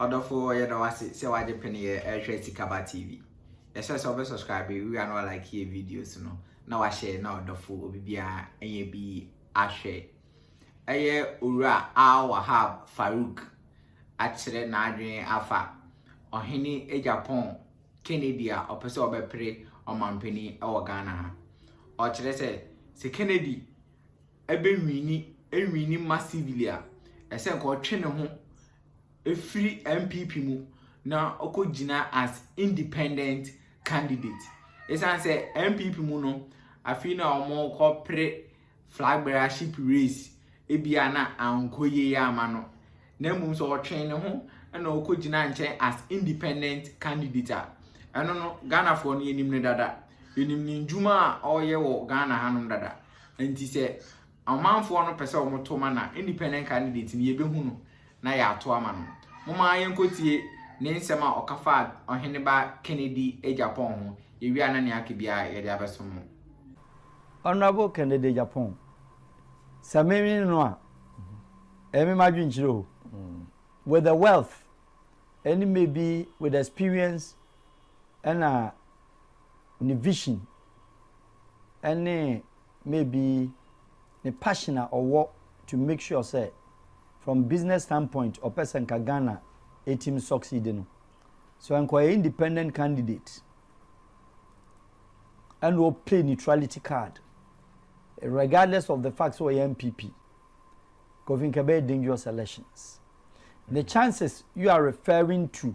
Ɔdɔfo yɛda wo ase sɛ wagye pene yɛ ɛhwɛ Sikaba TV. Yɛhyɛ sɛ ɔbɛ subscribe wia no like yɛ videos no na wahyɛ na ɔdɔfo obi bia ɛnyɛ bi ahwɛ. Ɛyɛ owura Al Wahab Farouk akyerɛ n'adwene afa ɔhene Egyapɔn Kennedy a ɔpɛ sɛ ɔbɛpere ɔmampanin wɔ Ghana ha. Ɔkyerɛ sɛ sɛ Kennedy bɛwini awini massively a, ɛsɛ sɛ anka ɔtwe ne ho firi NPP mu na ɔkɔgyina as independent candidate. Ɛsiane sɛ NPP mu no, afei na wɔkɔpere flag bearership race, ebia na ankɔ yie ama no. Na mmom sɛ ɔtwe ne ho na ɔkɔgyina nkyɛn as independent candidate a, ɛno no Ghanafoɔ no yɛnim no dada. Yɛnim ne nnwuma a ɔreyɛ wɔ Ghana hanom dada. Nti sɛ ɔmanfoɔ no pɛsɛ ɔmo to ma na nnipa no nka no deɛ nti no yɛbɛhu no na yɛato ama no. Momma yɛnkɔtie ne nsɛm a ɔka faa Ɔheneba Kennedy Agyapong ho, yɛwie a na nea aka biara yɛde abɛso mo. Honourable Kennedy Agyapong, sɛ menwene no a, ɛyɛ me m'adwenkyerɛ o, with the wealth ɛne maybe with the experience ɛna ne vision, ɛne maybe ne passion a ɔwɔ to make sure sɛ from business standpoint ɔpɛ sɛ nka Ghana ɛtumi succeed no so nka ɔyɛ independent candidate ɛna ɔplay neutrality card regardless of the fact sɛ ɔyɛ MPP kofi nka ɛbɛyɛ dangerous elections the chances you are referring to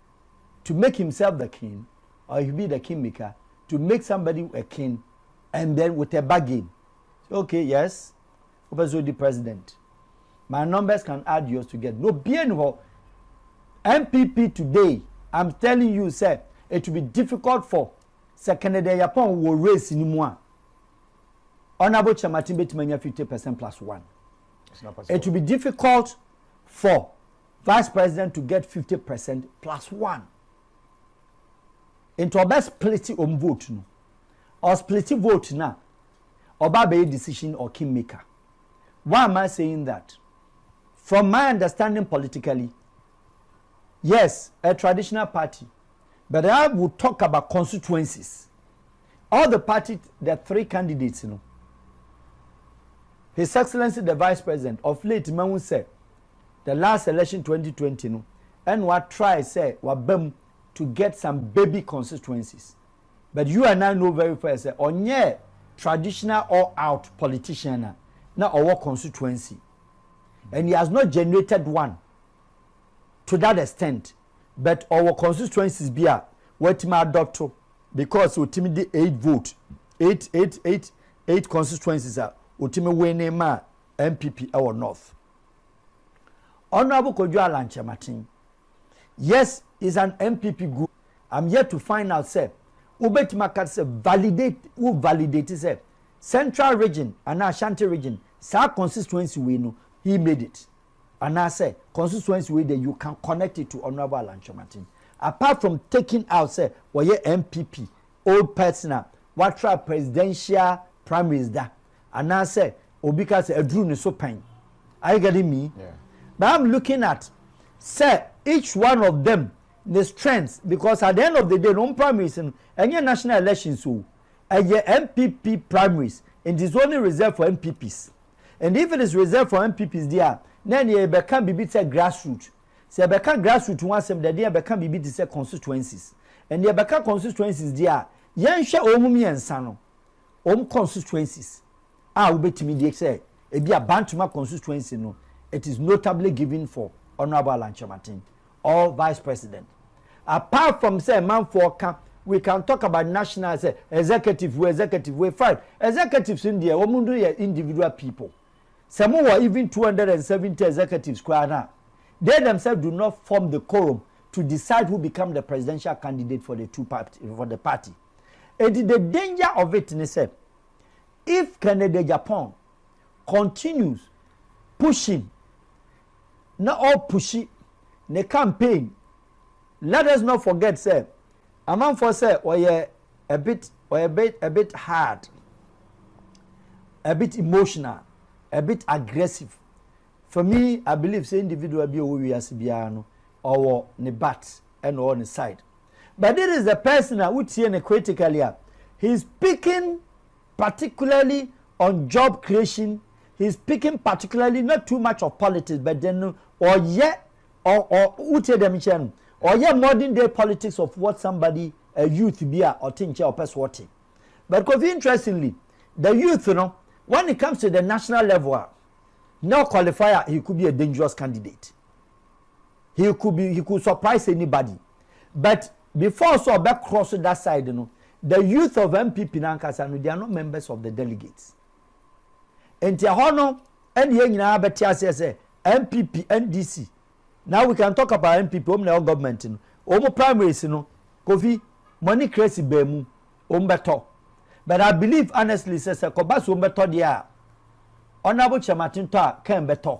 to make himself the king or he be the king maker to make somebody a king and then with a bargain okay yes wopɛ sɛ odi president my numbers can add yours together no bie ni hɔ npp today i'm telling you sɛ it will be difficult for sɛ kennedy yapɔn wɔ race ni mu a honourable chairman betumi anya fifty percent plus one it will be difficult for. Vice president to get fifty percent plus one nti ɔbɛ spliti ɔm vote no ɔ spliti vote na ɔba abɛyɛ decision or king maker why am I saying that from my understanding politically yes a traditional party but I will talk about constituencies all the party the three candidates no his excellency the vice president of late mahu sɛ. the last election twenty twenty no ɛna wa try sɛ waba mu to get some baby constituencies but you and I know very fair sɛ ɔnyɛɛ traditional all out politician a na ɔwɔ constituency and he has not generated one to that extent but ɔwɔ constituencies bi a watumi adɔto because otumi de eight vote eight eight eight eight constituencies a otumi winning ma NPP ɛwɔ north. Honourable Kojo Allan Kyerematen, Yes, is an NPP group, I'm yet to find out sɛ wobɛtumi aka sɛ validate, wo validate sɛ Central Region anaa Ashanti Region, saa constituency wei no, he made it. Anaasɛ constituency wei deɛ you can connect it to Honourable Allan Kyerematen. Apart from taking out sɛ ɔyɛ NPP old person a watra presidential primaries da, Anaasɛ obi ka sɛ aduru ne so pɛn. Are you getting me? Yeah. But I'm looking at sɛ each one of them ne strength because at the end of the day no primaries no ɛnyɛ national elections o ɛyɛ NPP primaries and it's only reserved for NPPs and if it is reserved for NPPs deɛ na ɛne yɛbɛka biribi sɛ grassroots sɛ yɛbɛka grassroots ho asɛm deɛ deɛ yɛbɛka biribi te sɛ constituencies and yɛbɛka constituencies deɛ a yɛnhwɛ wɔn mu mmiɛnsa no wɔn constituencies a wobɛtumi de sɛ ebia Bantama constituency no it is notably given for Honourable Alan Kyerematen or Vice President apart from sɛ manfoɔ ka we can talk about national sɛ executive wei executive wei fine executives no deɛ wɔn no yɛ individual people sɛ mo wɔ even 270 executives koraa no a they themselves do not form the quorum to decide who become the presidential candidate for the two party for the party. Enti the danger of it ne sɛ if Kennedy Agyapong continues pushing na ɔrepushi ne campaign, let us not forget sɛ amanfoɔ sɛ wɔyɛ a bit wɔyɛ bit a bit hard, a bit emotional, a bit aggressive. For me, I believe sɛ individual bi a ɔwɔ wiase biara no ɔwɔ ne but ɛna ɔwɔ ne side. but this is the person a wotie no critically a he is speaking particularly on job creation he is speaking particularly not too much of politics but then no ɔyɛ ɔ ɔ wotie dɛm kyerɛ no ɔyɛ modern day politics of what somebody a youth bi a ɔte nkyɛn ɔpɛ so ɔte but kofi interestingly the youth no when it comes to the national level a na qualify a he could be a dangerous candidate. he could be he could surprise anybody but before sɛ ɔbɛ cross that side no the youth of npp n'ankasa no they are not members of the delegates nti ɛhɔ no ɛna yɛn nyinaa bɛte aseɛ sɛ npp ndc now we can talk about npp wɔn na ɛwɔ government no wɔn primaries no kofi money crazy bɛn mu wɔn bɛtɔ but i believe honestly sɛ sɛ kɔba so wɔn bɛtɔ deɛ a ɔnabɔ kyerɛmatentɔ a kɛn bɛtɔ.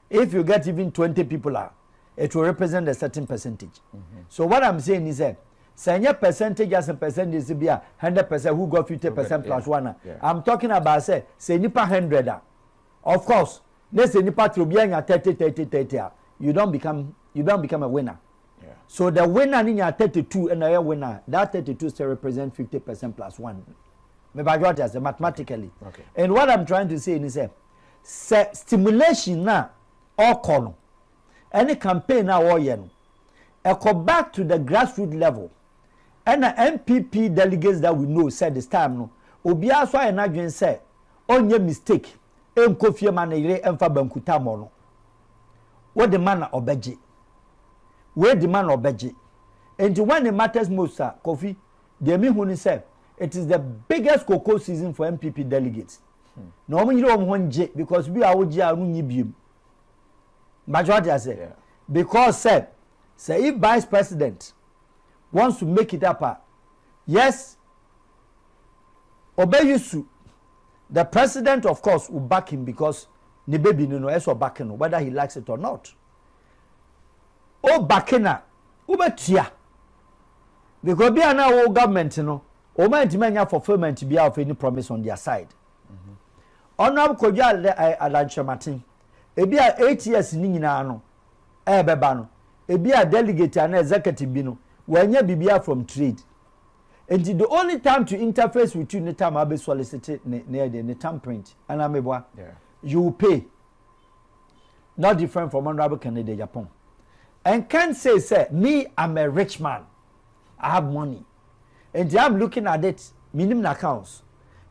If you get even twenty people a, it will represent a certain percentage. So what I'm saying ni sɛ, sɛ ɛnyɛ percentage asɛ percentage sɛ bi a hundred percent who got fifty percent plus one a, I'm talking about sɛ sɛ nipa hundred a, of course, ne sɛ nipa toro bi anya thirty thirty thirty a, you don't become you don't become a winner. So the winner ni nya thirty two ɛna ɛyɛ winner that thirty two still represent fifty percent plus one. Mebadwa ɔte ase mathematically. Okay. And what I'm trying to say ni sɛ. sɛ stimulation no a ɔkɔ no ɛne campaign no a ɔyɛ no ɛkɔ back to the grassroot level ɛna NPP delegates that we know sɛ this time no obiara so ayɛ n'adwene sɛ ɔnyɛ mistake ɛnkɔ fie ma ne yere ɛmfa banku tammɔ no wode ma na ɔbɛgye wei de ma na ɔbɛgye nti when it matters most a Kofi deɛ mehu ne sɛ it is the biggest cocoa season for NPP delegates na wɔn nyere wɔn ho ngye because bi a wogye a ɔno nye biem mbadwo ate ase because sɛ sɛ if vice president wants to make it up a yes ɔbɛyi su the president of course will back him because ne baby no no ɛsɛ ɔbake no whether he likes it or not o bake na wobɛtua because bi a na wo government no Wɔn antumi anya fulfilment biara of any promise on their side. Honourable Kwadwo Adankyerɛmaten, ebi a eight years ne nyinaa no ɛrebɛba no, ebi a delegate anaa executive bi no, wɔanya biribiara from trade. Nti the only time to interface with you ne time a wobɛsolicit ne ne ɛdeɛ ne thumbprint, anaa meboa? Yeah. You will pay. Not different from Honourable Kennedy Agyapong. And Ken says, sɛ, me, I'm a rich man. I have money. nti I'm looking at it menim n'accounts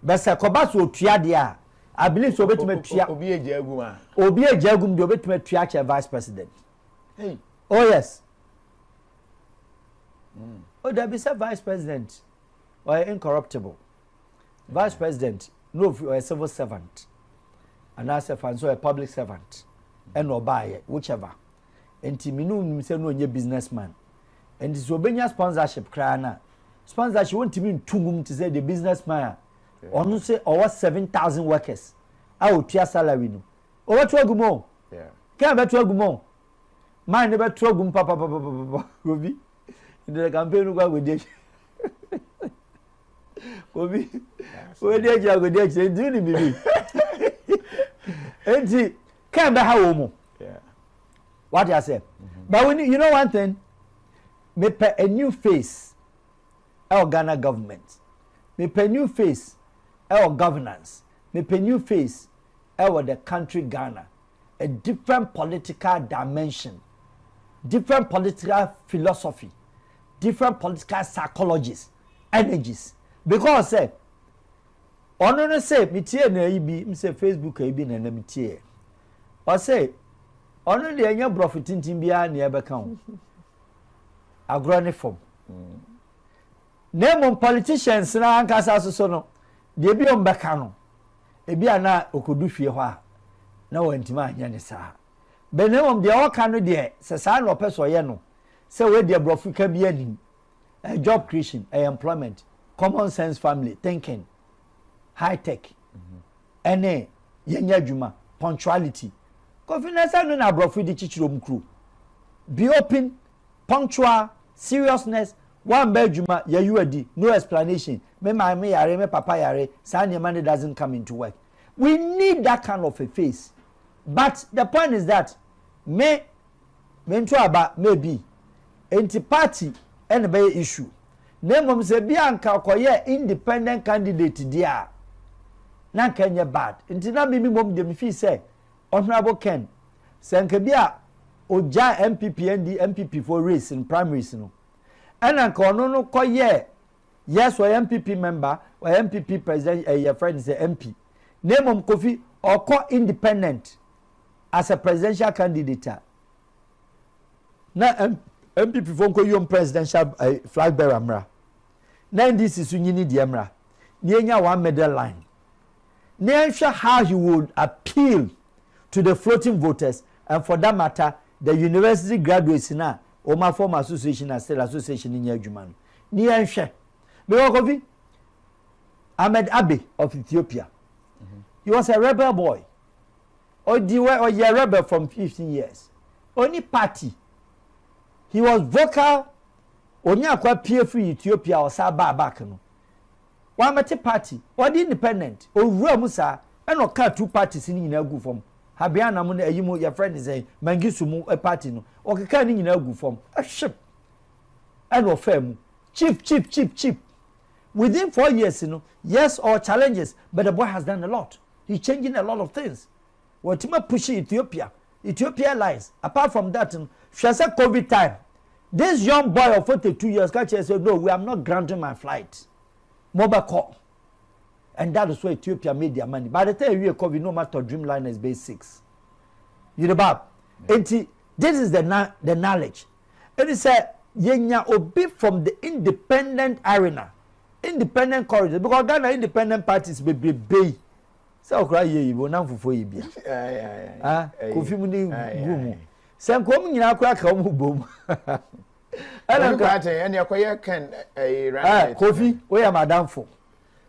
but sɛ kɔba sɛ ɔtua deɛ a I believe sɛ ɔbɛtumi atua obi agya agum a obi agya agum deɛ ɔbɛtumi atua akyɛ vice president hey. oh yes mm. oh dabi sɛ vice president ɔyɛ incorruptible vice mm. president no ofi ɔyɛ civil servant anaasɛ fa nso ɔyɛ public servant ɛna ɔbaayɛ whichever nti me ne wo nim sɛ na ɔnyɛ business man nti sɛ ɔbɛnya sponsorship koraa no a sponsorship wɔntumi nto gum te sɛ deɛ business man a ɔno sɛ ɔwɔ seven thousand workers a ɔtua salary no ɔbɛto agu mu o kɛn bɛto agu mu o man ne bɛto agu mu papapapapa obi ndɛrɛ campaign no kɔ agodi akyi obi odi akyi agodi akyi nti ni bibi nti Kɛn bɛ ha wɔn mu. Wate aseɛ. But we need, you know one thing? Mepɛ a new face ɛwɔ Ghana government. Mepɛ new face ɛwɔ governance. Mepɛ new face ɛwɔ the country Ghana. A different political dimension. Different political philosophy. Different political psychologies, energies. Because sɛ, Ɔno no se metiee no ayi bi mse Facebook ayi bi na na metieɛ. Ɔse ɔno deɛ ɛnyɛ brɔfo tintin biara nea ɛbɛka ho. Agorɔ ne fam. Na mmom politicians no ankasa so so no deɛ bi ɔm bɛka no ebi a na ɔkɔdu fie hɔ a na wantumi anyɛ ne saa. Bɛ na mmom deɛ ɔka no deɛ sɛ saa na ɔpɛ sɛ ɔyɛ no sɛ wei deɛ brɔfo ka bi anim Ɛyɛ job creation, ɛyɛ employment, common sense family thinking, high tech, ɛne yɛnyɛ adwuma, punctuality. Kofi na sɛ no na aborɔfo de kyikyiri wɔn kuro. Be open, punctual, seriousness, woamba adwuma, yɛayi wo adi, no explanation, me maame yare, me papa yare, saa nneɛma no doesn't come into work. We need that kind of a face. But the point is that me Mentu aba, maybe, enti party na ɛbɛyɛ issue. Na mmom sɛ bi a nka ɔkɔyɛɛ independent candidate deɛ a, na nka ɛnyɛ bad. Nti na me mmom deɛ mefii sɛ Honourable Ken, sɛ nka bi a ɔgyae NPP ND, NPP foɔ race no, primaries no, ɛna nka ɔno no kɔyɛɛ, yes ɔyɛ NPP member, ɔyɛ NPP president, ɛyɛ friend sɛ MP. Na mmom Kofi, ɔkɔ independent as a presidential candidate a na npp fo nkɔ yom presidential eh, flag bearer mmra na ndc so nyini deɛ mmra na yɛnya one middle line na yɛnhwɛ how he would appeal to the floating voters and for that matter the university graduates no a wɔn afɔm association na state association no nyɛ adwuma no na yɛnhwɛ because kofi ahmed abe of ethiopia he was a rebel boy Odi wɔ ɔyɛ rebel from fifteen years. Onni party. He was vocal onye akwa pie firi Ethiopia ɔsan baa back no. Wammɛte party. Ɔde independent. Owura mu saa ɛna ɔkaa two parties no nyinaa guu fam. Habeana mu ne ayi mu yɛfrɛ ne sɛn Mangisu mu party no. Ɔkekaa ne nyinaa guu fam. Hwip! Ɛna ɔfaa mu. Chip chip chip chip. Within four years no, yes ɔwɔ challenges but the boy has done a lot. he's changing a lot of things wɔtumi apushi Ethiopia Ethiopia Airlines apart from that no hwɛ sɛ covid time this young boy of forty two years ka kyerɛ sɛ no we am not grounding my flight mo bɛ kɔ and that is why Ethiopia made their money by the time ewie covid no matter Dreamliners base six Yoruba eti this is the na the knowledge ɛni sɛ yɛnya obi from the independent arena. Independent courage because Ghana independent parties bebrebe yi sɛ ɔkora yie yi wɔnam fufuo yi bia ah, kofi mu ne gu mu sɛ nka wɔn nyinaa kora ka wɔn bom ɛna nka ɛna ɛkɔyɛ kɛn ɛyɛ kofi oyɛ madamfo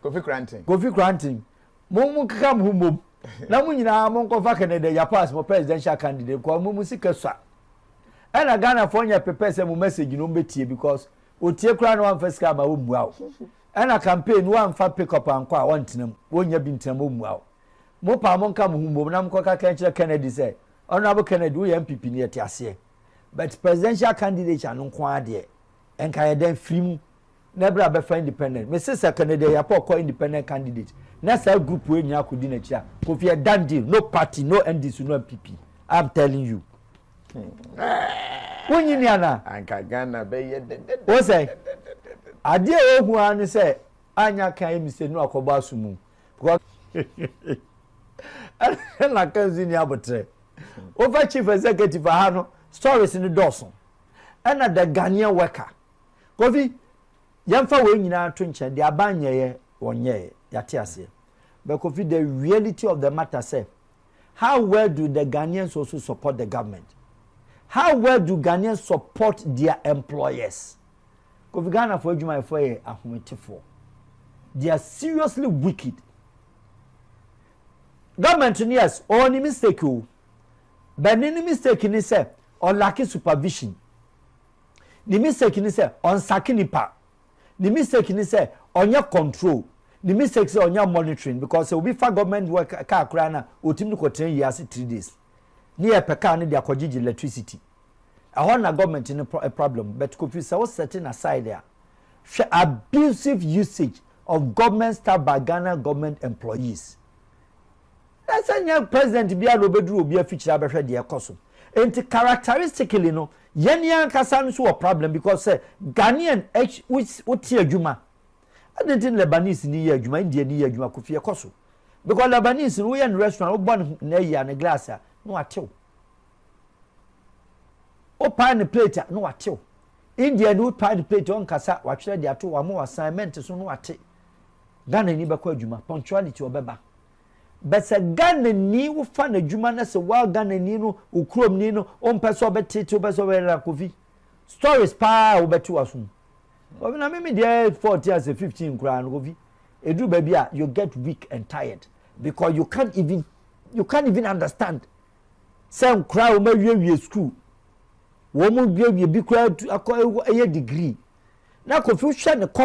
kofi kranten kofi kranten mo mo keka mo ho mbom na mo nyinaa mo nkɔfa kɛnɛdɛ yapas mo presidential candidate kɔ mo mo sika sua ɛna ghana fo nyɛ pepɛ sɛ mo message no mo bɛ tie because. Otie koraa na wamfa sika amma wommua wo. Ɛna campaign no woamfa pick up ankɔ a wɔntena mu. Wonnya bi ntena mu ommua wo. Mopaa mo nka mo ho mmom na mokɔka ka kyerɛ Kennedy sɛ Honourable Kennedy woyɛ NPP ni yɛte aseɛ but presidential candidature no nko ara deɛ nka yɛ dɛn firi mu na bra bɛfa independent. Mese sɛ Kennedy Ayiapoɔ kɔ independent candidate na saa group wei nyinaa kɔdi n'akyiri a Kofi a done deal no party no NDC no NPP. I am telling you. wonyi ni anaa anka ghana bɛyɛ dɛdɛ wo sɛ adeɛ a wɔhu ara ne sɛ anya ka ayɛ mistake no akɔbɔ aso mu because ɛna ka nso ni abotrɛ wofa chief executive ha no stories no dɔɔso ɛna the ghanaian worker kofi yɛmfa wei nyinaa to nkyɛn de aban nyɛeɛ wɔnyɛeɛ yɛate aseɛ bɛkofi the reality of the matter sɛ How well do the Ghanaians also support the government? How well do Ghanaians support their employers? Kofi Ghana for adwumayɛ for yɛ ahometefoɔ. They are seriously wicked. Government no yes, ɔwɔ ne mistake o. Oh. But ne mistake ni sɛ ɔlake supervision. Ne mistake ni sɛ ɔnsake nipa Ne mistake ne sɛ ɔnyɛ control, ne mistake sɛ ɔnyɛ monitoring because sɛ obi fa government work car koraa no a ɔtumi de kɔtena yie ase three days ne yɛpɛ car no de akɔgyegye electricity. Ɛhɔ na government no problem but Kofi sɛ wo set no aside a hwɛ abusive usage of government staff by Ghana government employees. Na sɛ nyɛ president biara na ɔbɛduru obi afikyiri abɛhwɛ deɛ ɛkɔ so. Nti characteristically no, yɛn yɛn ankasa nso wɔ problem because sɛ Ghanaian ɛkyi wo wote adwuma, adɛn nti na Lebanese ni yɛ adwuma, Indian ni yɛ adwuma, Kofi ɛkɔ so. Because Lebanese no woyɛ no restaurant, wobɔ ne ne ayi a ne glass a, na watew. Wopae ne plate a, na watew. Indian ni wopae ne plate a, ɔnkasa, watwerɛ de ato wo ama wo assignment so na wate. Ghanani bɛkɔ adwuma, punctuality ɔbɛba. But sɛ Ghanani wofa n'adwuma na sɛ waa Ghanani no wo kurom ni no wompɛ sɛ ɔbɛtete wopɛ sɛ ɔbɛyɛ kofi stories paa a wobɛte w'asom. Kofi na mimi deɛ 14 as a 15 koraa no kofi ɛduru baabi a you get weak and tired because you can't even you can't even understand sɛ nkora a wɔn awiewie school wɔn awiewie bi koraa akɔ ɛyɛ degree na kofi hwɛ ne kɔm